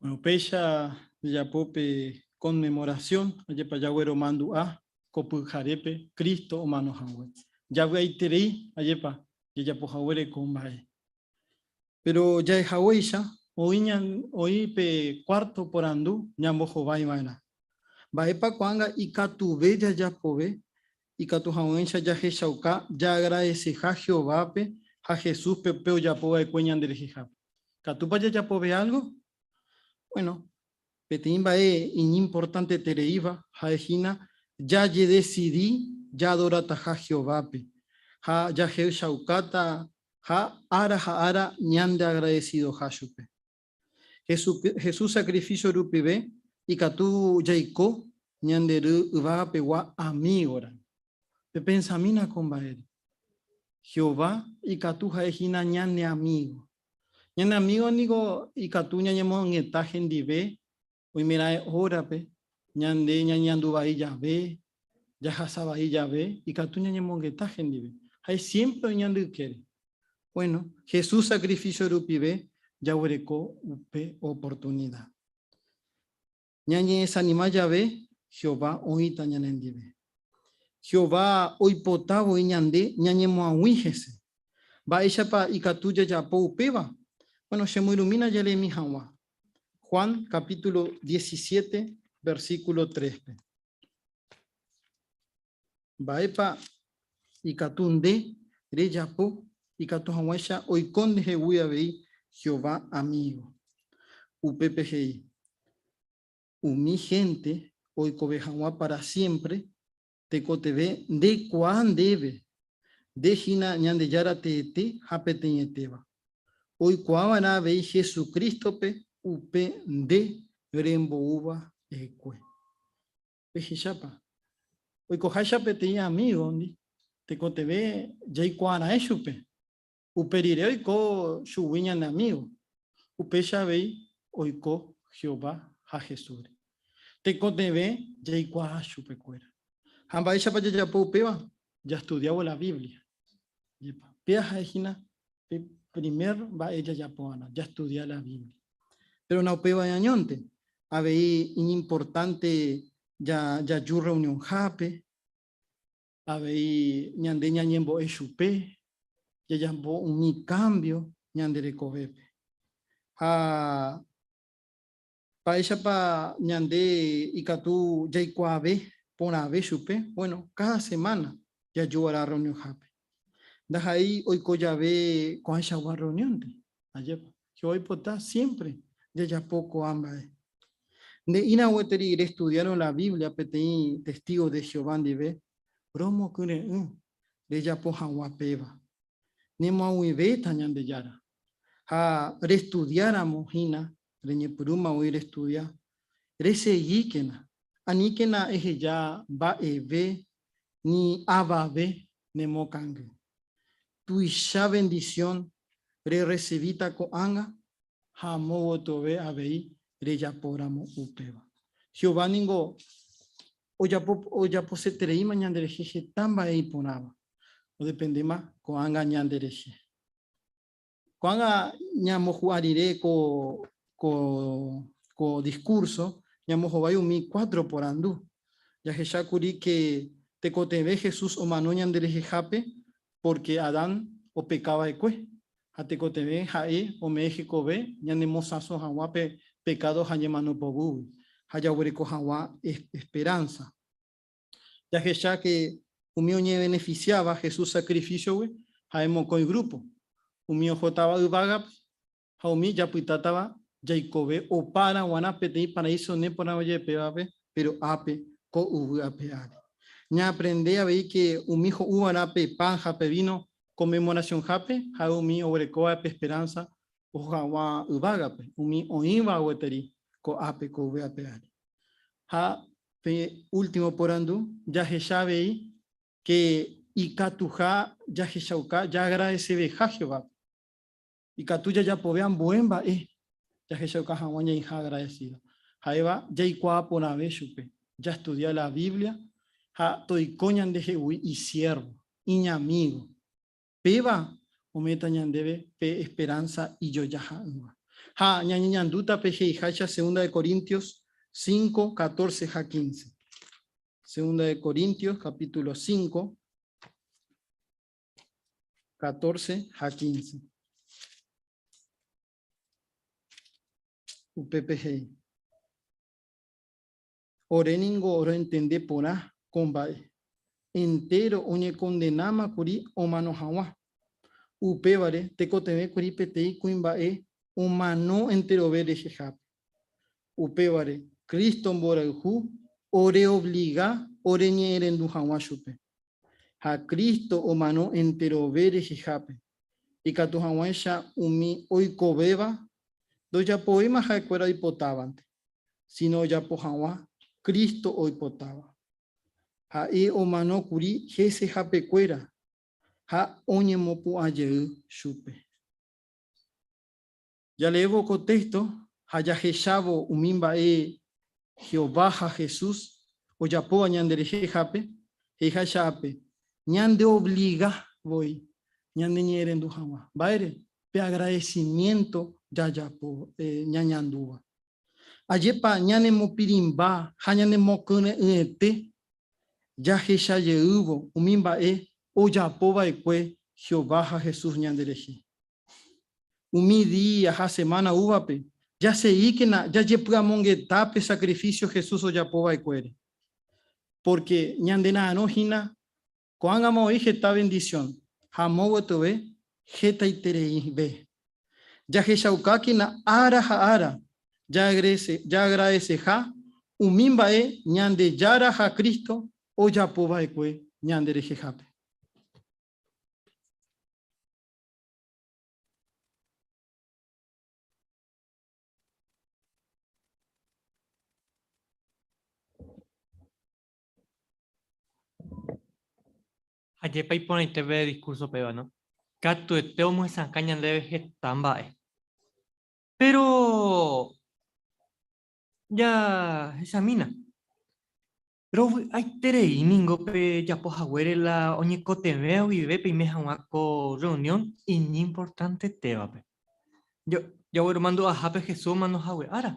Bueno, péicha jajapo pe conmemoración, ajepa jaguero mandu'a ko pyharépe Cristo omano hague. Javy'aiterei ajepa jajapo haguére ko mba'e. Péro jahechaguéicha oĩ pe kuárto porandu ñambohovaiva'erã, Mba'épa ko'ág̃a ikatuve jajapove? Ikatu hag̃uáicha jahechauka jaagradeseha Jehovápe ha Jesúspe pe ojapo va'ekue ñanderehehápe. Ikatúpa jajapove álgo? Buéno, Peteĩ mba'e iñimportantetereíva ha'e hína jajedesidi jaadorataha Jehovápe ha jahechaukáta ha ára ha ára ñandeagradesidoha chupe. Jesús sakrifísio rupive ikatu jaiko ñande Ru yvagapegua amígora. Pepensamína ko mba'ére. Jehová ikatu ha'e hína ñane amígo. Ñane amígo niko ikatu ñañemo'ag̃uieta hendive oimeraẽ órape ñande ñañeandu vai jave, jahasa vai jave, ikatu ñañemo'ag̃uieta hendive. Ha'e siémpre oĩ ñande ykére. Bueno, Jesús sakrifísio rupive jaguereko upe oportunida. Ñañe'esanima jave, Jehová oĩta ñanendive. Jehová oipota voi ñande ñañemoag̃ui hese. Mba'éichapa ikatu jajapo upéva? Bueno, chemoirũmína jareemi hag̃ua Juan capítulo diecisiete, versículo tréspe. Mba'épa ikatu nde rejapo ikatu hag̃uáicha oiko ndehegui avei Jehová amígo? Upépe he'i, Umi hénte oikove hag̃ua pára siémpre tekotevẽ ndekuaa ndéve, nde hína Ñandejára teete ha peteĩetéva. Oikuaa va'erã avei Jesucrístope upe nde remboúva hekue. Pehechápa? Oikoháicha peteĩ amígondi, tekotevẽ jaikuaara'e chupe, upe rire oiko chugui ñane amígo. Upéicha avei oiko Jehová ha Jesúsre. Tekotevẽ jaikuaa chupekuéra. Ha mba'éichapa jajapo upéva? Jastudiávo la Biblia. Jepa, péva ha'e hína Pe primer mba'e jajapóvana, jastudia la Biblia. Péro naupévai añónte, avei iñimportánte jaju rreunionhápe, avei ñande ñañembo'e chupe, jajapo umi kámbio ñande rekovépe. Ha Mba'éichapa ñande ikatu jaikuaave porãve chupe? Bueno, káda semána jaju va'erã rreunionhápe. Ndaha'éi oiko jave ko'ãichagua rreuniónpe. Ajépa, Jehová oipota siémpre jajapo ko'ã mba'e. Nde ĩrã gueteri restudiárõ la Biblia peteĩ testígo de Jehová ndive, romokyre'ỹ rejapo hag̃ua péva. Nemoag̃uivéta Ñandejára ha restudiáramo hína reñepyrũma voi restudia, resegíkena, aníkena eheja mba'eve ni avave ne mokangy. Tuicha vendisión rerresivíta ko'ág̃a ha movotove avei rejapóramo upéva. Jehová ningo ojaposetereíma ñanderehe heta mba'e iporãva, odependéma ko'ág̃a ñanderehe. Ko'ág̃a ñamohu'a rire ko diskúrso, ñamohovái umi kuátro porandu. Jahecha kuri ke tekotevẽ Jesús omano ñanderehehápe pórke Adán opeka va'ekue, ha tekotevẽ ha'e ome'ẽ hekove ñanemosãso hag̃ua pe pekádo ha ñemano poguýgui ha jaguereko hag̃ua esperánsa. Jahecháke umi oñevenefisiáva Jesús sakrifísiogui ha'e mokõi grúpo, umi ohótava yvágape ha umi japytátava jaikove opára g̃uarã peteĩ paraíso neporãva jepévape, péro ápe, ko yvy ape ári. Ñaaprende avei ke umi ho'u va'erã pe pan ha pe víno Konmemorasionhápe ha'e umi oguerekóva pe esperánsa oho hag̃ua yvágape, umi oĩva gueteri ko ápe, ko yvy ape ári. Ha pe último porandu, jahecha avei ke ikatuha jahechauka jaagradeseveha Jehovápe. Ikatu jajapove ambue mba'e jahechauka hag̃ua ñaiha agradesído. Ha'éva jaikuaa porãve chupe, jastudia la Biblia ha toiko ñandehegui isiérvo, iñamígo. Péva ome'ẽta ñandéve pe esperánsa ijojaha'ỹva. Ha ñañeñandúta pe he'iháicha Segunda de Corintios cinco, catorce ha quince. Segunda de Corintios capítulo cinco, catorce ha quince. Upépe he'i. Ore ningo roentende porã ko mba'e, entéro oñekondenáma kuri omano hag̃ua. Upévare tekotevẽ kuri peteĩ kuimba'e omano enterove rehehápe. Upévare Cristo mborayhu oreovliga oreñe'ẽrendu hag̃ua chupe. ha Cristo omano enterove rehehápe, ikatu hag̃uáicha umi oikovéva ndojapovéima ha'ekuéra oipotávante, síno ojapo hag̃ua Cristo oipotáva. Ha'e omano kuri hesehapekuéra ha oñemopu'ã jey chupe. Jaleévo ko téxto ha jahechávo umi mba'e Jehová ha Jesús ojapóva ñanderehehápe, he'iháicha ápe, ñandeovliga voi ñaneñe'ẽrendu hag̃ua. Mba'ére? Pe agradesimiénto jajapo ñañandúva. Ajépa ñanemopirĩmba ha ñanemokyre'ỹete jahecha jeývo umi mba'e ojapo va'ekue Jehová ha Jesús ñanderehe! Umi día ha semana úvape, jaseíkena jajepy'amongeta pe sakrifísio Jesús ojapo va'ekuére. Pórke ñande ra'arõ hína, ko'ág̃ama oĩ heta vendisión ha amo gotyove hetaitereive. Jahechaukákena ára ha ára jaagradeseha umi mba'e Ñandejára ha Cristo ojapo va'ekue ñanderehehápe. Ajépa iporãitéve discurso péva, no? Katuete omyesakã ñandéve heta mba'e. Péro jahechamína, Rovy'aiterei ningo pejapo haguére la oñekotevẽva guive peime hag̃ua ko rreunión iñimportantetévape. Jagueromandu'ahápe Jesús omano hague ára,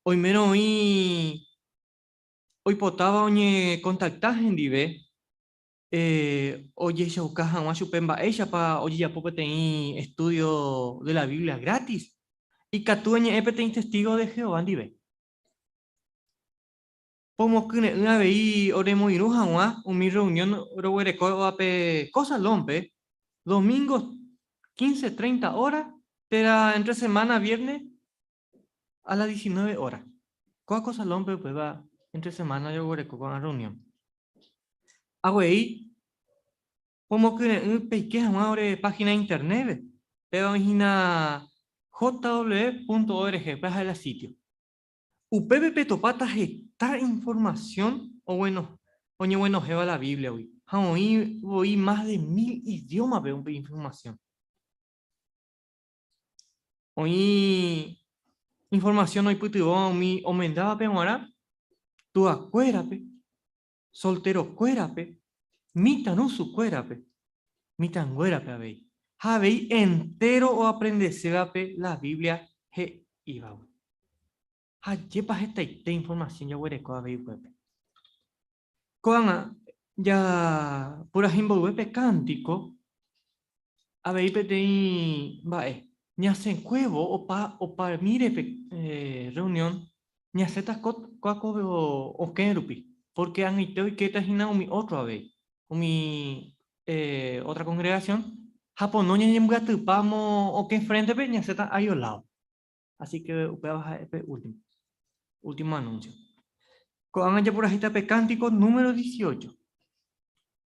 oimérõ oĩ oipotáva oñekontakta hendive ojehechauka hag̃ua chupe mba'éichapa ojejapo peteĩ estúdio de la Biblia grátis, ikatu eñe'ẽ peteĩ testígo de Jehová ndive. Pomokyre'ỹ avei oremoirũ hag̃ua umi rreunión roguerekóva pe ko salón-pe, domingo quince treinta óra térã entre semana viérne a las diecinueve óra. Kóa ko salón-pe upéva entre semana joguereko ko'ã rreunión. Avei pomokyre'ỹ peike hag̃ua ore página internet-pe, péva oĩ hína jw.org, upéva ha'e la sitio. Upépe petopáta heta informasión oñeguenohẽva la Bíbliagui, ha oĩ voi más de mil idiómape upe informasión. Oĩ informasión oipytyvõva umi omendávape g̃uarã tuakuérape solterokuérape, mitãrusukuérape, mitãnguérape avei, ha avei entéro oaprendesévape la Biblia he'ívagui. Ha ajépa hetaite informasión jaguereko avei upépe! Ko'ág̃a japurahy mboyve pe kántiko Avei peteĩ mba'e, ñasẽkuévo opa opamíre pe rreunión, ñasẽta kóva ko okẽ rupi, pórke ag̃uite oikéta hína umi ótro avei, umi ótra kongregasión, ha pono ñañembyatypa amo okẽ fréntepe, ñasẽta aiolávo. Así ke upéva ha'e pe último, último anúnsio. Ko'ág̃a japurahéita pe kántiko número dieciocho.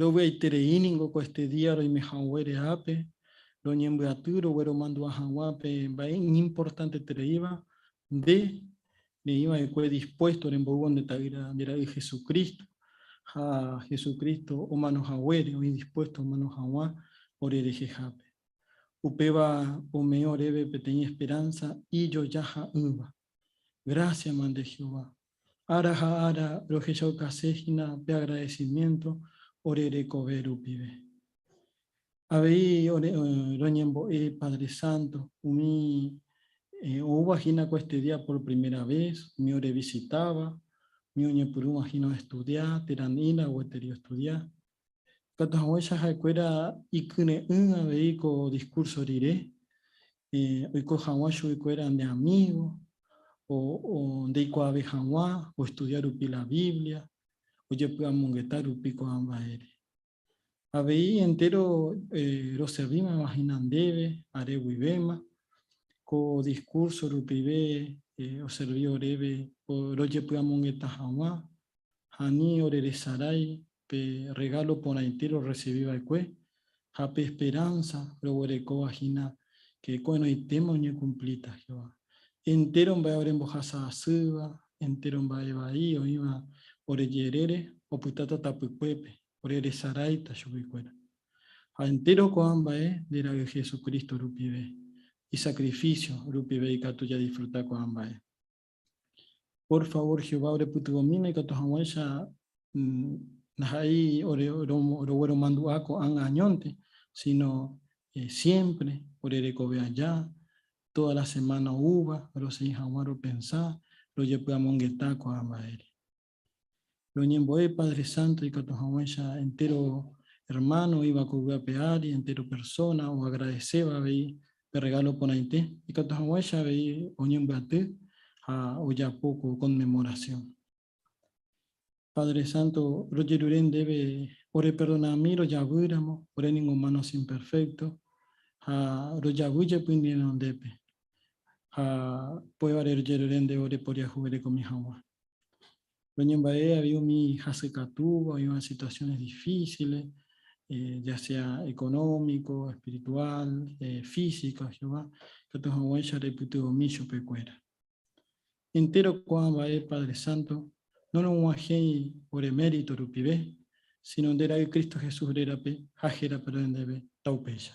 Rovy'aiterei ningo ko este día roime haguére ápe, roñembyaty rogueromandu'a hag̃ua pe mba'e iñimportantetereíva, nde neĩ va'ekue dispuesto remboy'u nde Ta'ýra nde Ra'y Hesu Crísto, ha Hesu Crísto omano haguére oĩ dispuesto omano hag̃ua ore rehehápe. Upéva ome'ẽ oréve peteĩ esperánsa ijojaha'ỹva. Grásiama nde Jehová! Ára ha ára rohechaukase hína pe agradecimiento ore rekove rupive. Avei roñembo'e Padre Santo umi oúva hína ko este día por primera vez, umi orevisitáva, umi oñepyrũva hína oestudia, térã nila gueteri oestudia, Ikatu hag̃uáicha ha'ekuéra ikyre'ỹ avei ko diskúrso rire, oiko hag̃ua chuguikuéra nde amígo, ndeikuaave hag̃ua oestudia rupi la Biblia, ojepy'amongeta rupi ko'ã mba'ére. Avei entéro roservímava hína ndéve are guivéma, ko diskúrso rupive oservi oréve rojepy'amongeta hag̃ua ha ani oreresarái pe rregálo porãite rorresivi va'ekue ha pe esperánsa roguerekóva hína ke ko'ẽrõitéma oñekumplíta Jehová. Entéro mba'e orembohasa asýva, entéro mba'e vai oĩva ore jerére opytáta tapykuépe, ore resaráita chupekuéra. Ha entéro ko'ã mba'e nde ra'y Jesucristo rupive, isakrifísio rupive ikatu jadisfruta ko'ã mba'e. Por favor, Jehová orepytyvõmína ikatu hag̃uáicha ndaha'éi rogueromandu'a ko'ág̃a añónte, síno siémpre orerekove aja, tóda la semána oúva, rosegi hag̃ua ropensa, rojepy'amongeta ko'ã mba'ére. Roñembo'e Padre Santo ikatu hag̃uáicha entéro ermáno oĩva ko yvy ape ári, entéro persóna oagradeséva avei pe rregálo porãite, ikatu hag̃uáicha avei oñembyaty ha ojapo ko Konmemorasión. Padre Santo, rojerure ndéve oreperdonami rojavýramo, ore ningo humanos imperfectos, ha rojavy jepi ne renondépe, ha upévare rojerure ndéve oreporiahuverekomi hag̃ua. Ñañemba'e avei umi hasykatúva oĩva situaciones difíciles, ya sea económico, espiritual, física, Jehová ikatu hag̃uáicha reipytyvõmi chupekuéra. Entéro ko'ã mba'e Padre Santo norog̃uahẽi ore mérito rupive, síno nde ra'y Cristo Jesús rérape ha héra perdón ndéve, ta upéicha.